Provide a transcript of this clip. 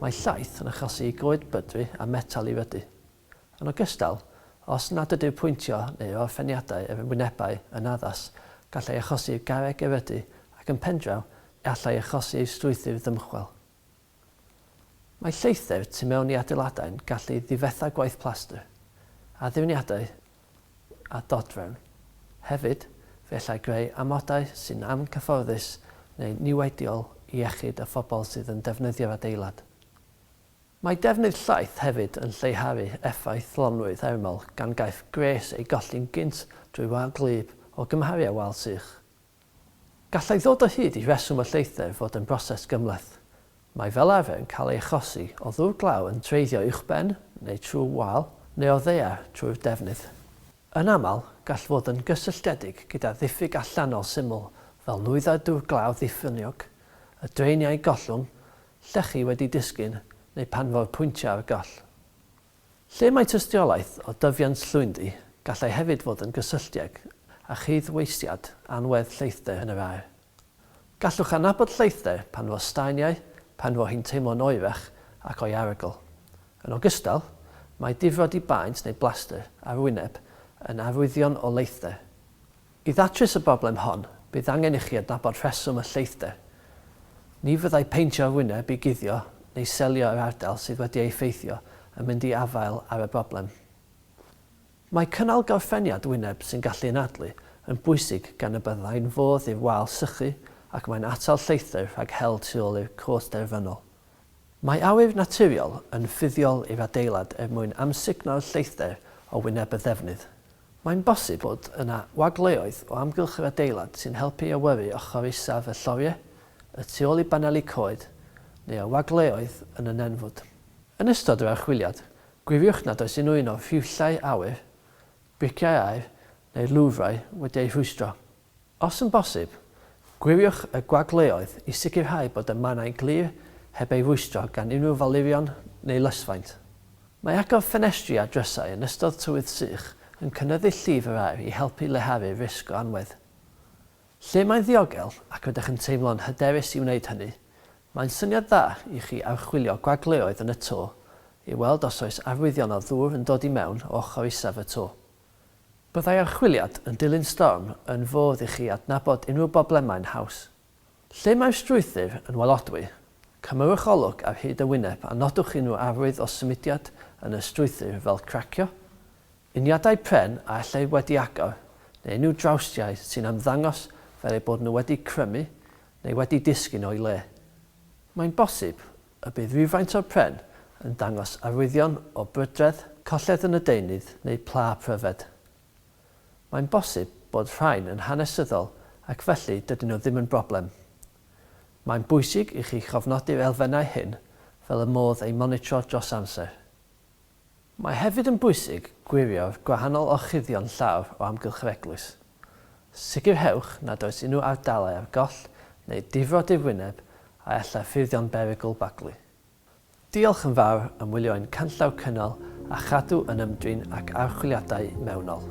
Mae llaeth yn achosi i goed bydru a metel i fydu. Yn ogystal, os nad ydyw pwyntio neu orffeniadau yr ymwynebau yn addas, gall ei achosi i'r garreg erydu ac yn pendraw y all ei achosi i'r strwythur ddymchwel. Mae lleithder tu mewn i adeiladau'n gallu difetha gwaith plastr. Addurniadau a dodrefn. Hefyd, fe allai greu amodau sy'n angyfforddus neu'n niweidiol i iechyd y phobl sydd yn defnyddio'r adeilad. Mae defnydd llaeth hefyd yn lleihau effaith lonnwy thermol gan gaiff gwres ei golli'n gynt drwy wal gwlyb o gymharu â wal sych. Gallai ddod o hyd i reswm y lleithder fod yn broses gymhleth. Mae fel arfer yn cael ei achosi o ddŵr glaw yn treiddio uwchben neu trwy wal, neu o ddaear trwy'r defnydd. Yn aml, gall fod yn gysylltiedig gyda ddiffyg allanol syml fel nwyddau dŵr glaw ddiffyniog, y draeniau gollwng, llechi wedi disgyn, neu pan fo'r pwyntiau ar goll. Lle mae tystiolaeth o dyfiant llwyndi, gallai hefyd fod yn gysylltieg â chyd-weithiad anwedd lleithder yn yr aer. Gallwch adnabod lleithder pan fo staeniau, pan fo hi'n teimlo'n oerach ac o'i arogl. Yn ogystal, mae difrodi baent neu blastr ar wyneb yn arwyddion o leithder. I ddatrys y broblem hon, bydd angen i chi adnabod rheswm y lleithder. Ni fyddai peintio'r wyneb i guddio neu selio yr ardal sydd wedi ei effeithio yn mynd i afael ar y broblem. Mae cynnal gorffeniad wyneb sy'n gallu anadlu yn bwysig gan y byddai'n fodd i'r wal sychu ac mae'n atal lleithder rhag hel tu ôl i'r cwt derfynol. Mae awyr naturiol yn fuddiol i'r adeilad er mwyn amsugno'r lleithder o wyneb y ddefnydd. Mae'n bosib bod yna wagleoedd o amgylch yr adeilad sy'n helpu i awyru ochr isaf y lloriau, y tu ôl i baneli coed, neu ar wagleoedd yn y nenfwd. Yn ystod yr archwiliad, gwiriwch nad oes unrhyw un o'r rhiwllau awyr, briciau aer, neu'r lwfrau wedi eu rhwystro. Os yn bosib, gwiriwch y gwagleoedd i sicrhau bod y mannau'n glir heb ei rwystro gan unrhyw falurion neu lysfaint. Mae agor ffenestri a drysau yn ystod tywydd sych yn cynyddu llif yr aer i helpu leihau'r risg o anwedd. Lle mae'n ddiogel ac rydych yn teimlo'n hyderus i wneud hynny, mae'n syniad dda i chi archwilio gwagleoedd yn y to i weld os oes arwyddion o ddŵr yn dod i mewn o ochr isaf y to. Byddai archwiliad yn dilyn storm yn fodd i chi adnabod unrhyw broblemau'n haws. Lle mae'r strwythur yn walodwy, cymmerwch olwg ar hyd y wyneb a nodwch unrhyw arwydd o symudiad yn y strwythur fel cracio, uniadau pren a ellir wedi agor neu unrhyw drawstiau sy'n ymddangos fel eu bod nhw wedi crymu neu wedi disgyn o'i le. Mae'n bosib Y bydd rhywfaint o'r pren yn dangos arwyddion o brydredd, colled yn y deunydd neu pla pryfed. Mae'n bosib bod rhain yn hanesyddol ac felly dydyn nhw ddim yn broblem. Mae'n bwysig i chi chofnodi'r elfennau hyn fel y modd eu monitro dros amser. Mae hefyd yn bwysig gwirio'r gwahanol orchuddion llaw o amgylch yr eglwys. Sicrhewch nad oes unrhyw ardalau ar goll neu difrod i'r wyneb a allai ffurfio'n berygl baglu. Diolch yn fawr am wylio ein canllaw cynnal a chadw yn ymdrin ac archwiliadau mewnol.